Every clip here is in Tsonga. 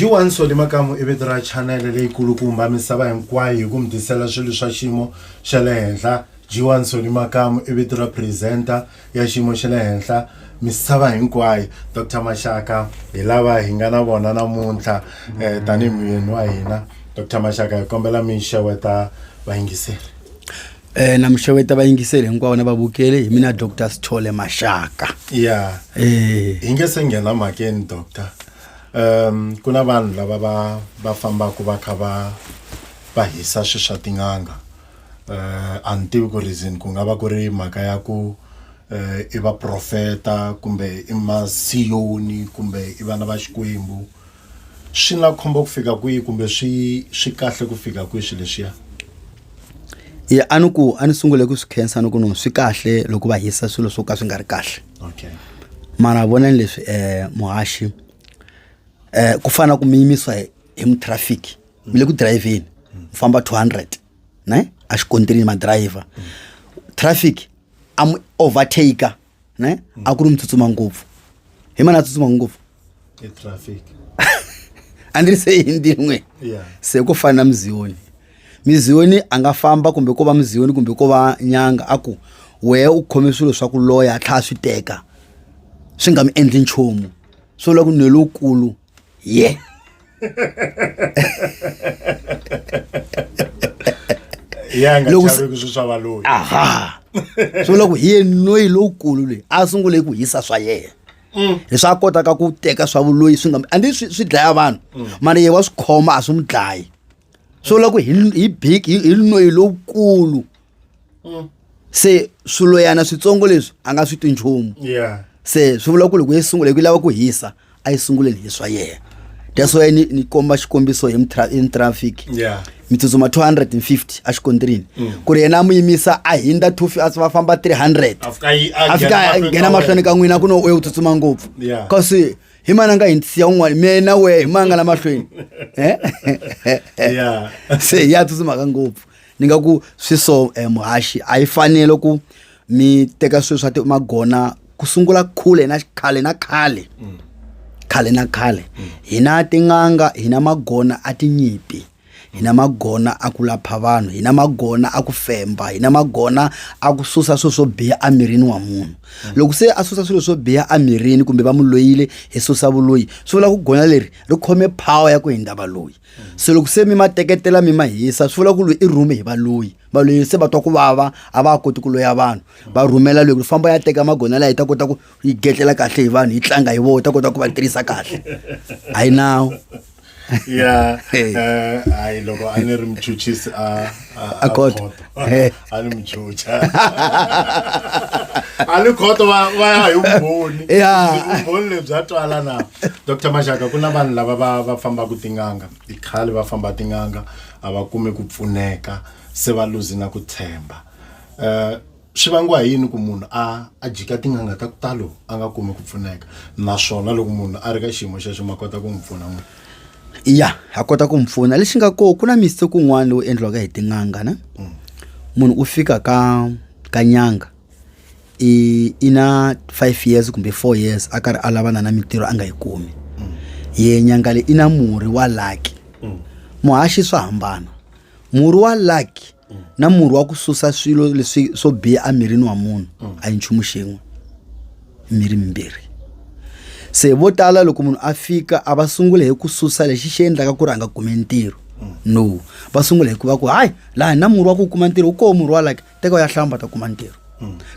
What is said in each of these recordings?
jiwanso le makamu i vito ra chanele leyikulukumba misava hinkwayo hi ku mi tisela swilo swa xiyimo xa le henhla jiwanso le makamu i vito ra presenter ya xiyimo xa le henhla misava hinkwayo Doctor Mashaka hi lava hi nga na vona namuntlha eh, tanihi muyeni wa hina Doctor Mashaka hi kombela mi xeweta vayingiseri eh na mixeweta vayingiseri hinkwavo na vavukeli hi mina dr sithole maxaka ya eh hi nge se nghena mhakeni doctor um ku na vanhu lava va va fambaka va kha va va hisa swi swa tin'anga eh, a ni tivi ku reason ku nga va ku ri mhaka ya ku eh, i vaprofeta kumbe i masiyoni kumbe i vana va xikwembu swi na khombo ku fika kwihi kumbe swi swi kahle ku fika kwihi swilo leswiya ya a ni ku a ni sungule ku swi khensa ni ku no swi kahle loko va hisa swilo swo ka swi nga ri kahle okay mara vonani leswi um muhaxi um ku fana ku mi yimisiwa hi hi mutrafiki mi le ku dirayivheni mi famba 200 ne a xikontirini madirayivha traffic a mi overtaker ne a ku ri mi tsutsuma ngopfu hi mani a tsutsuma ngopfu a ndzi ri se hi ndin'we se ku fana na muziyoni muziyoni a nga famba kumbe ko va muziyoni kumbe ko va nyanga a ku wehe u khome swilo swa ku loya a tlhaya swi teka swi nga mi endli nchumu swi vula ku nwe lowukulu Yeah. ya nga Loko se- chavi ku swi swa valoyi aha swi vula ku hi yenoyi lowukulu loyi a sungule ku hisa swa yena leswi a kotaka ku teka swa vuloyi swi nga a ndi swi swi dlaya vanhu mara yehe wa swi khoma a swi n'wi dlayi swo vula ku hi hi big hi hi noyi lowukulu Mm. se swiloyana switsongo leswi a nga swi twi nchumu yeah se swi vula ku loko yi sungula hi ku yi lava ku hisa a yi sunguleni hi swa yena that's why ni, ni komba xikombiso hi mtra- hi traffic yeah mi tsutsuma 250 exikontrini Mm. ku ri yena a mu yimisa a hindza 2 a va famba 300 afika yi a fika a nghena mahlweni ka n'wina ku no u ye u tsutsuma ngopfu Yeah. kasi hi mani a nga hi nsiya un'wana mina na wehe hi mani a nga la mahlweni Eh? Yeah. se ya tsutsumaka ngopfu ni nga ku swi so eh, muhaxi a yi fanele ku mi teka swilo swa ti- magona ku sungula khule na khale na khale khale na khale hina tin'anga hina magona a tinyimpi hi na magona a ku lapha vanhu hi na magona a ku femba hi na magona a ku susa swilo swo biha emirini wa munhu mm. loko se a susa swilo swo biha emirini kumbe va mu loyile hi susa vuloyi swi vula ku gona leri ri khome power ya ku hindza valoyi mm. se loko se mi ma teketela mi ma hisa swi vula ku loyi i rhume hi valoyi valoyi se va twa ku vava a va koti ku loya vanhu mm. va rhumela loyi ku famba ya teka magona laha yi ta kota ku yi getlela kahle hi vanhu yi tlanga hi vona yi ta kota ku va tirhisa kahle a yi nawu ya eh, hayi loko a ni ri muchuchisi a a kota a ni muchucha a ni khoto va va ya hi vumbhoni vumbhoni lebya twala na dr maxaka ku na vanhu lava va va fambaka tin'anga i khale va famba tin'anga a va kumi ku pfuneka se va luzi na ku tshemba um swi vangiwa hi yini ku munhu a a jika tin'anga ta ku talo a nga kumi ku pfuneka naswona loko munhu a ri ka xiyimo xexo ma kota ku n'wi pfuna n'wi ya ha kota ku n'wi pfuna lexi nga koho ku na miste kun'wana lowu endliwaka hi tin'anga na mm. munhu u fika ka ka nyanga i i na five years kumbe four years a karhi a lavana na mintirho a nga yi kumi mm. ye nyanga leyi i na murhi wa laki mm. muhaxi swa hambana murhi wa lucky na murhi wa ku susa swilo leswi swo biha emirini wa munhu a yi nchumu xin'we miri mimbirhi se vo tala loko munhu a fika a va sungula hi ku susa lexi xi endlaka ku ri a nga kumi ntirho no va sungula hi ku va ku hayi laha na murhi wa ku kuma ntirho wu koho murhi wa lucky teka u ya hlamba ta kuma ntirho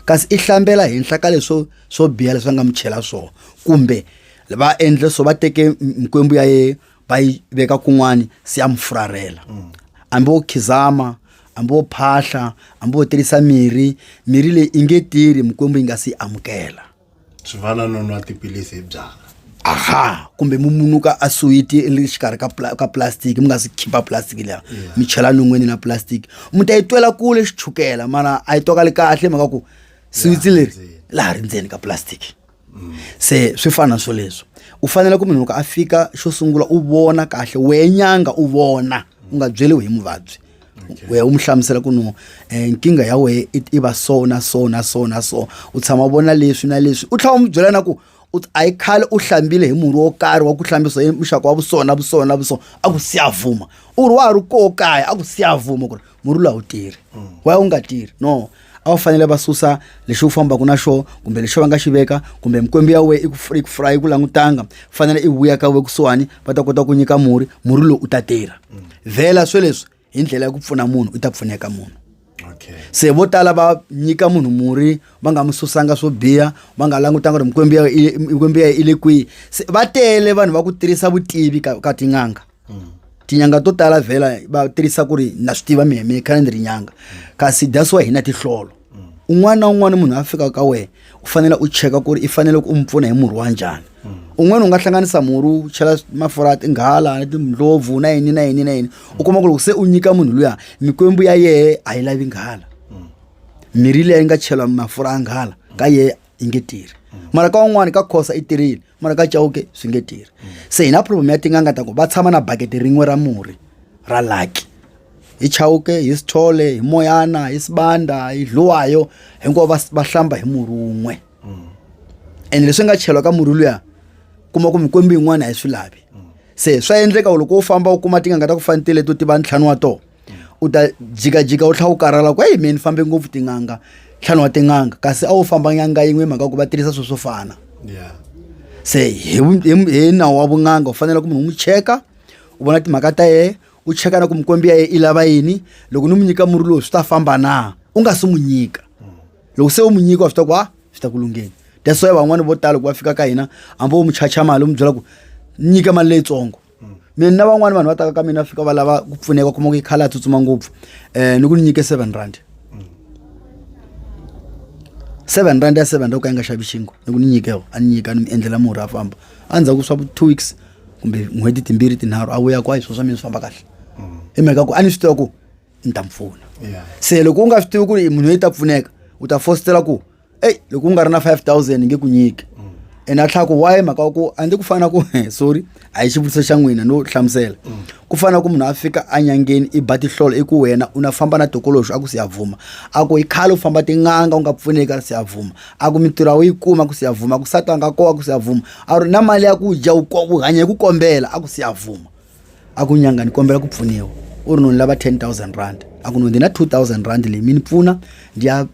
kasi i hlambela henhla ka leswo swo biha leswi va nga mi chela swona kumbe va endle so va teke m- mikwembu ya ye va yi veka kun'wani se ya mi furarhela mm. hambi wo khizama hambi wo phahla hambi wo tirhisa mirhi mirhi leyi i nge tirhi mikwembu yi nga si yi amukela swi fana no nwa tiphilisi hi byala aha kumbe mi munuka a suwiti ri xikarhi ka ka plastic mi nga si khipa plastic leya mi chela non'wini na plastic mi ta yi twela kule xichukela mana a yi twakali kahle mhaka ku siwitsi leri laha ri ndzeni ka plastic se swi fana na swoleswo u fanele ku munhu loko a fika xo sungula u vona kahle wehe nyanga u vona u nga byeliwi hi muvabyi wehe u mu hlamusela ku no eh, nkingha ya wehe i va so na so na so na so u tshama u vona leswi na leswi u tlhela u mu byela na ku a yi khale u hlambile hi murhi wo karhi wa ku hlambisa hi muxaka wa vusona vusona vusona a ku siyavuma u ri wa ha ri koo kaya a ku siyavuma ku ri murula wu tirhi wa wu nga tirhi no a wu fanele va susa lexi wu fambaka na xo kumbe lexi va nga xi veka kumbe mikwembu ya we yi ku langutanga fanele i vuya ka we kusuhani va ta kota ku nyika murhi murhi lowu u ta tirha vhela swo leswi hi ndlela ya ku pfuna munhu u ta pfuneka munhu se vo tala va nyika munhu murhi va nga mi susanga swo biha va nga langutanga ku ri mikwembu ya i le kwihi se va tele vanhu va ku tirhisa vutivi ka tin'anga mm. tinyanga to tala vhela va tirhisa ku ri na swi tiva mina mina khale ni ri nyanga kasi that's why hina tihlolo un'wana na un'wana munhu a fika ka wena u fanele u cheka ku ri i fanele ku u mi pfuna hi murhi wa njhani un'wana u nga hlanganisa murhi u chela mafurha ya tinghala na tindlopfu na yini na yini na yini u kuma ku loko se u nyika munhu luya mikwembu ya yehe a yi lavi nghala mirhi leyi nga chela mafurha ya nghala ka yehe yi nge tirhi mara ka un'wana ka khosa i tirhile mara ka chauke swi nge tirhi se hi na problem ya tin'anga ta ku va tshama na bakete rin'we ra murhi ra laki hi chauke hi sithole hi moyana hi sibanda hi dluwayo hinkwavo va va hlamba hi murhi wun'we ene leswi nga cheriwa ka murhi luya kuma ku mikwembu yin'wana a yi swi lavi se swa endleka u loko u famba u kuma tin'anga ta ku fanitile to tiva ntlhanu wa tona u ta jikajika u tlhela u karhala ku eyi meni fambe ngopfu tin'anga ntlhanu wa tin'anga kasi a wu famba nyanga yin'we mhaka ku va tirhisa swilo swo fana se hi hi nawu wa vun'anga u fanele ku munhu u n'wi cheka u vona timhaka ta yena u cheka na ku mikwembi ya yena i lava yini loko ni n'wi nyika murhi lowu swi ta famba na u nga si n'wi nyika loko se u n'wi nyika wa swi ta ku a swi ta ku lungheni that's why van'wani vo tala loko va fika ka hina hambi wo n'wi chacha mali u n'wi byela ku nyika mali leyitsongo mina na van'wani vanhu va taka ka mina fika va lava ku pfuneka u kuma ku yi khala a tsutsuma ngopfu um ni ku ni nyike seven rand seven rand ya seven rand ku ka yi nga xavi xingo ni ku ni nyike yo a ni nyika ni mi endlela murhi a famba a ndzhaku swa two weeks kumbe n'hweti timbirhi tinharhu a vuya kwayi swo swa mina swi famba kahle hi mhaka ku a ni swi tiva ku ni ta mi pfuna se loko u nga swi tivi ku ri munhu loyi ta pfuneka u ta fositela ku eyi loko u nga ri na 5000 nge ku nyiki ene a tlhaka why mhaka wa ku a ndzi ku fana ku sorry a hi xivutiso xa n'wina no hlamusela ku fana ku munhu a fika anyangeni i ba tihlolo i ku wena u na famba na tokoloxo a ku siyavuma a ku hi khale u famba tin'anga u nga pfuneki a ri siyavuma a ku mintirho u yi kuma ku siyavuma ku satanga kowa ku siyavuma a ri na mali ya ku dya u hanya hi ku kombela a ku siyavuma a ku nyanga ni kombela ku pfuniwa u ri no ni lava 10000 rand a ku no ndi na 2000 rand leyi mi ni pfuna ndi ya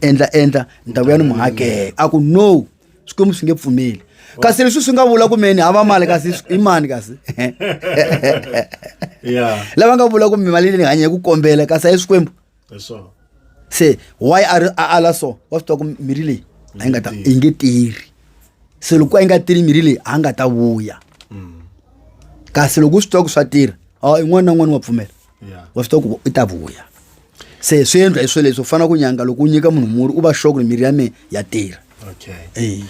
endla endla ni ta vuya ni mu hakela a ku no swikwembu swi nge pfumeli kasi leswi swi nga vula ku meni hava mali kasi i mani kasi lava nga vula ku mi mali leyi ni hanya hi ku kombela kasi a yi swikwembu se why a ri a ala so wa swi tiva ku mirhi leyi a yi nga ta yi nge tirhi se loko a yi nga tirhi mirhi leyi a nga ta vuya mm. kasi loko u swi tiva ku swa tirha a yin'wana na yin'wana wa pfumela wa swi tiva ku i ta vuya se swi endla hi swo leswi u fanele ku nyanga loko u nyika munhu murhi u va xoku ri mirhi ya mehe ya tirha okay. hey.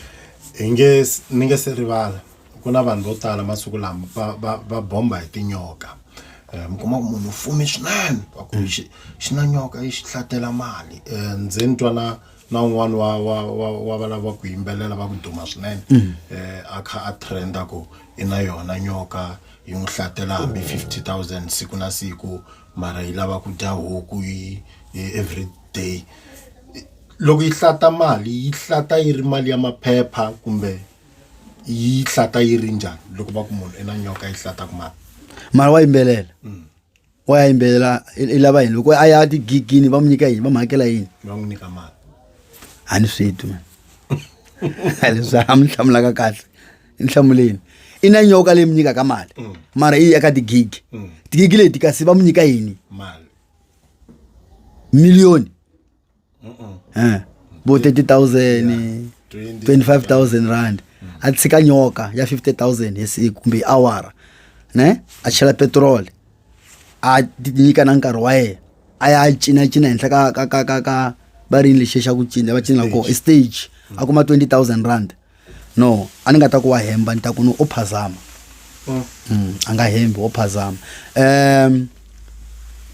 hi nge ni nge se rivala ku na vanhu vo tala masiku lama va va va bomba hi tinyoka um mi kuma ku munhu u fume swinene va ku xi xi na nyoka yi xi hlatela mali um ndzi ni twa na na un'wana wa wa wa wa valava ku yimbelela va ku duma swinene um a kha a trenda ku i na yona nyoka yi n'wi hlatela hambi fifty thousand siku na siku mara yi lava ku dya huku yi yi every day loko yi hlata mali yi hlata yi ri mali ya maphepha kumbe yi hlata yi ri njhani loko va ku munhu i na nyoka yi hlata ku mani mara wa yimbelela mm. wa ya yimbelela i lava yini loko a ya tigigini va n'wi nyika yini va n'wi hakela yini va n'wi nyika mali a ni swi twi leswi a mi hlamulaka kahle ni hlamuleni i na nyoka leyi mi nyikaka mali mm. mara i eka tigigi mm. tigigi leti kasi va mi nyika yini miliyoni vo 30000 25000 rand a tshika nyoka ya 50000 hi siku kumbe hi awara ne a chela petrol a nyika na nkarhi wa yena a ya cinacina henhla ka ka ka ka ka va rini lexi xa ku cina va cina kona i stage a kuma 20000 rand no a ni nga ta ku wa hemba ni ta ku no o phazama oh. mm, a nga hembi o phazama um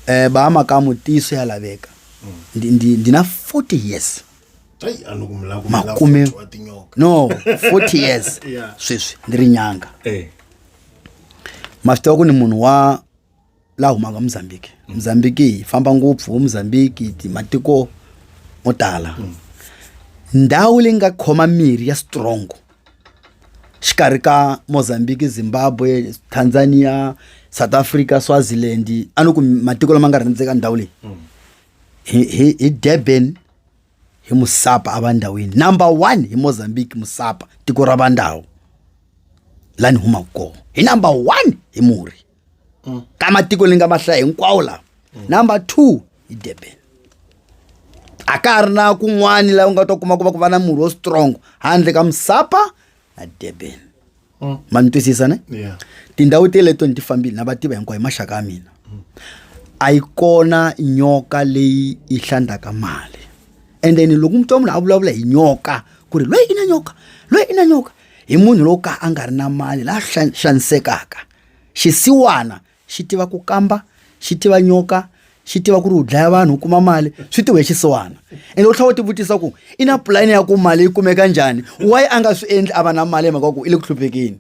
eh ba makamu tiso ya laveka ndi na 40 years makume no 40 years sweswi ndi ri nyanga eh. ma swi tiva ku ni munhu wa la humaka mozambique mozambique hi famba ngopfu wo mozambique matiko mo tala ndhawu leyi nga khoma mirhi ya strong xikarhi ka mozambique zimbabwe tanzania south africa swaziland a ni ku matiko lama nga rhandzeka ndhawu leyi hi, hi, hi durban hi musapa a va ndhawini number one hi mozambique musapa tiko ra va ndhawu la ni humaka kona hi number one hi murhi mm. ka matiko ni nga ma hlaya hinkwawo lawa mm. number two hi durban a ka ha ri na kun'wani laha u nga ta kuma ku va ku va na murhi wo strong handle ka musapa na durban mm. ma ni twisisa ne tindhawu teleto ni ti fambile na va tiva hinkwayo hi maxaka ya mina a yi kona nyoka leyi yi hlandzaka mali and then loko mutwa munhu a vulavula hi nyoka ku ri loyi i na nyoka loyi i na nyoka hi munhu lowo ka a nga ri na mali laha xanisekaka xisiwana xi tiva ku kamba xi tiva nyoka xi tiva ku ri u dlaya vanhu u kuma mali swi tiwe xisiwana ende u tlhela u tivutisa ku i na pulani ya ku mali yi kumeka njhani why a nga swi endli a va na mali hi mhaka ku i le ku hluphekeni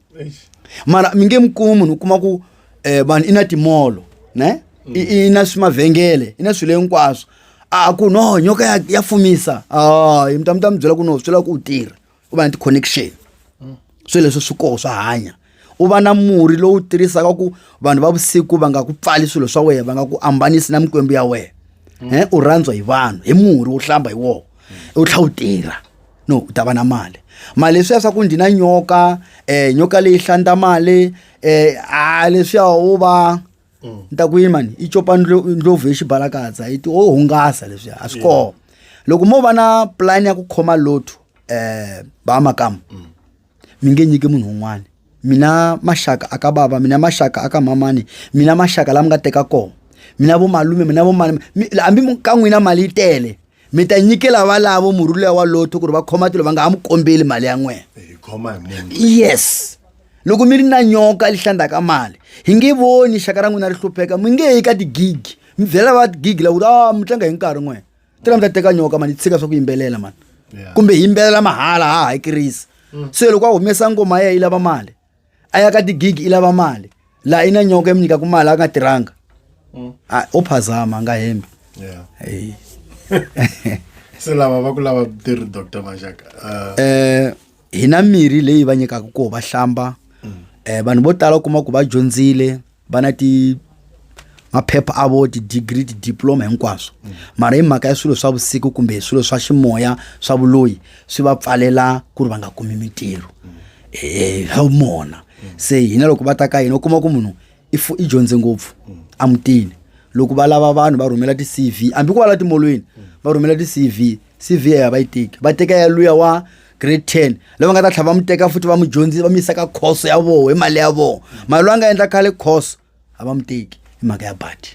mara mi nge mi kumi munhu u kuma ku um vanhu i na timolo ne i na swi mavhengele i na swilo hinkwaswo a ku no nyoka ya ya fumisa a mi ta mi ta mi byela ku no swi lava ku u tirha u va na ti-connection swilo leswi swi koho swa hanya u va na murhi lowu tirhisaka ku vanhu va vusiku va nga ku pfali swilo swa wena va nga ku ambanisi na mikwembu ya wena um u rhandzwa hi vanhu hi murhi wo hlamba hi wona u tlhela u tirha no u ta va na mali mali leswiya swa ku ndzi na nyoka um nyoka leyi hlanda mali um a leswiya u va mm. ni ta ku yini mani i copa ndlopfu hi xibalakadza yi ti o hungasa leswi a swi kona loko mo va na pulani ya ku khoma lotho um eh, ba makamu mm. mi nge nyiki munhu un'wana mina maxaka aka bava mina maxaka aka mamani mina maxaka lama nga teka kona mina vomalume mina vomani hambi ka n'wina mali yi tele mi ta nyikela valavo murhi luya wa lotho ku ri va khoma tilo va nga ha mi kombeli mali ya n'wena yes loko mi ri na nyoka lihlandzaka mali hi nge voni xaka ra n'wina ri hlupheka mi nge yi ka tigigi mi byela va tigigi lakuti a ah, mi tlanga hi nkarhi n'wena tira mi ta teka nyoka mani tshika swa ku yimbelela mani kumbe hi yimbelela mahala ha hakirisa mm. se loko a humesa ngoma ya yi lava mali a ya ka tigigi i lava mali laha i na nyoka mi nyikaku mali a nga tirhanga mm. a o phazama a nga hembi se lava va ku lava tirhi doctor maxaka um eh, hi na mirhi leyi va nyikaku koho va hlamba um vanhu vo tala u kuma ku va dyondzile va na ti maphepha a vo ti-degree ti-diploma hinkwaswo mara hi mhaka ya swilo swa vusiku kumbe hi swilo swa ximoya swa vuloyi swi va pfalela ku ri va nga kumi mintirho eh, hi mona se hina loko va ta ka hina u kuma ku munhu i fu- i dyondze ngopfu a mutini loko va lava vanhu va rhumela ti-cv hambi ku va la timolweni va rhumela ti-cv CV ya va yi tiki va teka ya luya wa grade 10 lava nga ta tlhava muteka futhi va mudyondzisi va mi yisa ka course ya voho hi mali ya voho mali loyi a nga endla khale course a va muteki hi mhaka ya badi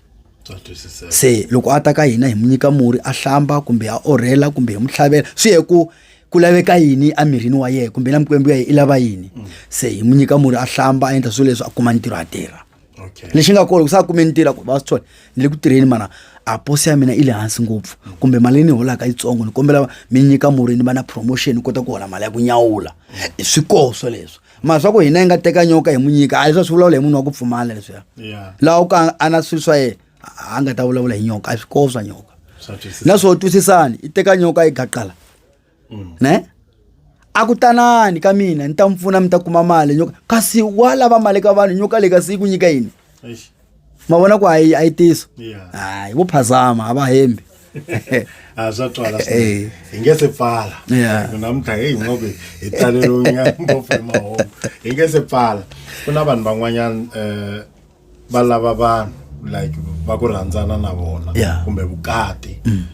se loko a ta ka hina hi mu nyika murhi a hlamba kumbe a orhela kumbe hi mu tlhavela swi ye ku ku laveka yini emirini wa yena kumbe na mikwembu ya yena i lava yini mm. se hi mu nyika murhi a hlamba a endla swilo leswi a kuma ntirho a tirha okay. lexi nga kona ku sa kume ntirho ku va swi thola ni le ku tirheni mana a posi ya mina i le hansi ngopfu kumbe mali leyi ni holaka yitsongo ni kombela mi nyika murhi ni va na promotion ni kota ku hola mali ya ku nyawula mm. swi koho swoleswo mara swa ku hina yi nga teka nyoka hi mu nyika a leswi swi vulavula hi munhu wa ku pfumala leswiya laha u ka a na swilo swa yena a nga ta vulavula hi nyoka a swi koho swa nyoka na swo twisisani i teka nyoka yi gaqala ne a ku tanani ka mina ni ta mi pfuna mi ta kuma mali nyoka kasi wa lava mali ka vanhu nyoka leyi kasi yi ku nyika yini Eish. ma vona ku a yi a yi tiso Yeah. hayi vo phazama a va hembi a swa twala Eh. swinene hi nge se pfala Yeah. Ku namuntlha heyi nga ku hi taleriwinga ngopfu hi mahungu hi nge se pfala ku na vanhu van'wanyana um va lava vanhu like va ku rhandzana na vona yeah. kumbe vukati mm.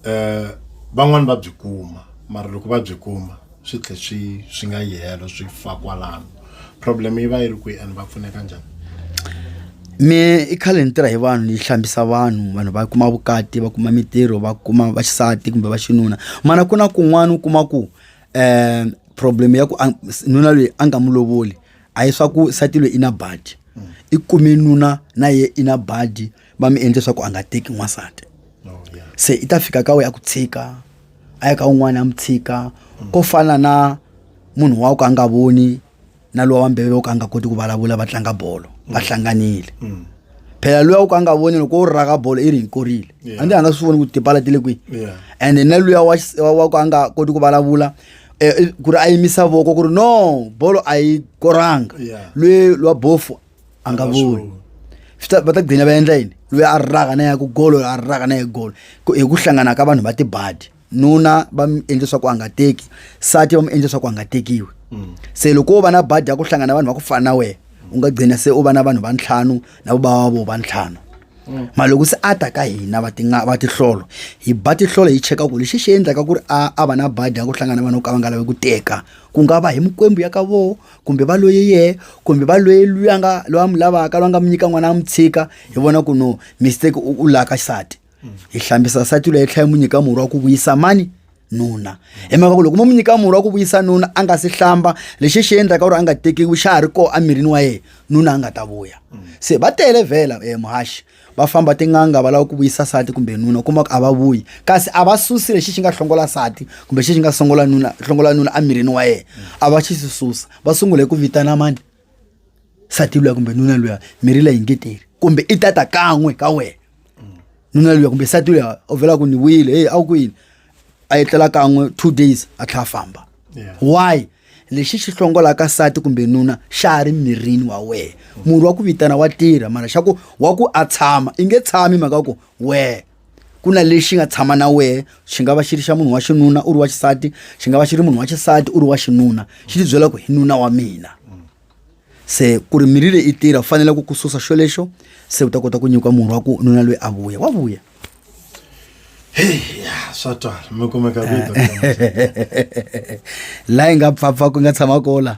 eh van'wani va byi kuma mara loko va byi kuma swi tlhe swi swi nga yihelo swi fa kwalano problem yi va yi ri kwihi and va pfuneka njhani me i khale ni tirha hi vanhu yi hlambisa vanhu vanhu va kuma vukati va kuma mitirho va kuma vaxisati kumbe va xinuna mana ku na kun'wana u kuma ku um problem ya ku nuna loyi a nga mu lovoli a hi swa ku sati loyi i na badi i kume nuna na ye i na badi va mi endle swa ku a nga teki n'wansati oh, se i ta fika ka we a ku tshika a ya ka un'wana a mi tshika mm. ko fana na munhu wa ku a nga voni na lowa wa mbele wo ka a nga koti ku vulavula va tlanga bolo mm. va hlanganile mm. phela luya u ka a nga voni loko u raka bolo i ri hi korile a ndzi a nga swi voni ku tipala ti le kwihi ende na luya wa ku a nga koti ku vulavula Eh, eh, ku ri a yimisa voko ku ri no bolo a yi koranga Yeah. lwe lwa bofu a nga voni Swi ta- va ta gcina va endla yini loyi a raka na ya ku golo a raka na ya golo Ku- hi ku hlangana ka vanhu va tibadi nuna va mi endle swa ku a nga teki sati va mi endle swa ku a nga tekiwi se loko wo va na badi ya ku hlangana na vanhu va ku fana na wena u nga gcina se u va na vanhu va ntlhanu na vobava vo va ntlhanu mm. mara loko se a ta ka hina va tinga va tihlolo hi ba tihlolo hi cheka ku lexi xi endlaka ku ri a a va na badi ya ku hlangana vanhu ka va nga lavi ku teka ku nga va hi mikwembu ya ka voho kumbe va loye yehe kumbe va loye luya nga loyi a mi lavaka loyi a nga mi nyika n'wana a mi tshika hi vona ku no mistake u laka xisati mm. hi hlambisa sati loyi tlhela yi mu nyika murhi wa ku vuyisa mani nuna hi mhaka ku loko mo mi nyika murhi wa ku vuyisa nuna a nga si hlamba lexi xi endlaka ku ri a nga tekiwi xa ha ri koho emirini wa yena nuna a nga ta vuya se va tele vhela um muhaxi va famba tin'anga va lava ku vuyisa sati kumbe nuna u kuma ku a va vuyi kasi a va susi lexi xi nga hlongola sati kumbe xi xi nga songola nuna hlongola nuna emirini wa yena a va xi si susa va sungule ku vitana mani nsati luya kumbe nuna luya mirhi leyi nge teri kumbe i tata kan'we ka wena nuna luya kumbe nsati luya u vhela ku ni vuyile heyi a wu ku yini a etlela kan'we two days a tlhela a famba why lexi xi hlongolaka nsati kumbe nuna xa ha ri mirini wa wena murhi wa ku vitana wa tirha mara xa ku wa ku a tshama i nge tshami mhaka ku wehe ku na lexi nga tshama na wehe xi nga va xi ri xa munhu wa xinuna u ri wa xisati xi nga va xi ri munhu wa xisati u ri wa xinuna xi ti byela ku hi nuna wa mina se ku ri mirhi leyi i tirha u fanele ku ku susa xo lexo se u ta kota ku nyikiwa murhi wa ku nuna loyi a vuya wa vuya swa twala mi kumeka laha hi nga pfapfa ku nga tshama kola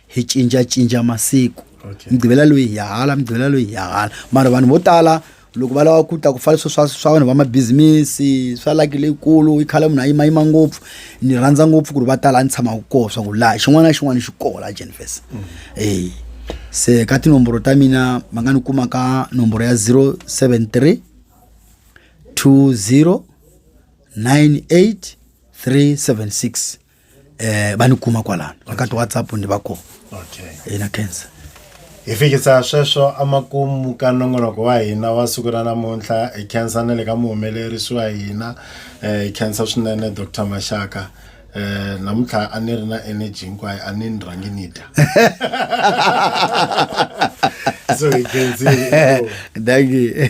hi cincacinca masiku okay. mugqivela loyi hi hala mugqivela loyi hi hala mara vanhu vo tala loko va lava ku ta ku fana swo swa swa vanhu va mabizimisi swa laki leyikulu i khale munhu a yimayima ngopfu ni rhandza ngopfu ku ri va tala a ni tshamaka koho swa ku laha xin'wana na xin'wana xi koho laha jenifes mm. e se ka tinomboro ta mina va nga ni kuma ka nomboro ya 073 20 98 376 eh va ni kuma kwalano va ka ti whatsapp ni va kona okay ina cancer hi fikisa sweswo amakumu ka nongonoko wa hina wa siku ra namuntlha hi khensa na le ka muhumelerisi wa hina um hi khensa swinene dr maxaka um namuntlha a ni ri na energy hinkwayo a ni ni rhangi ni dya so hi khensile thank you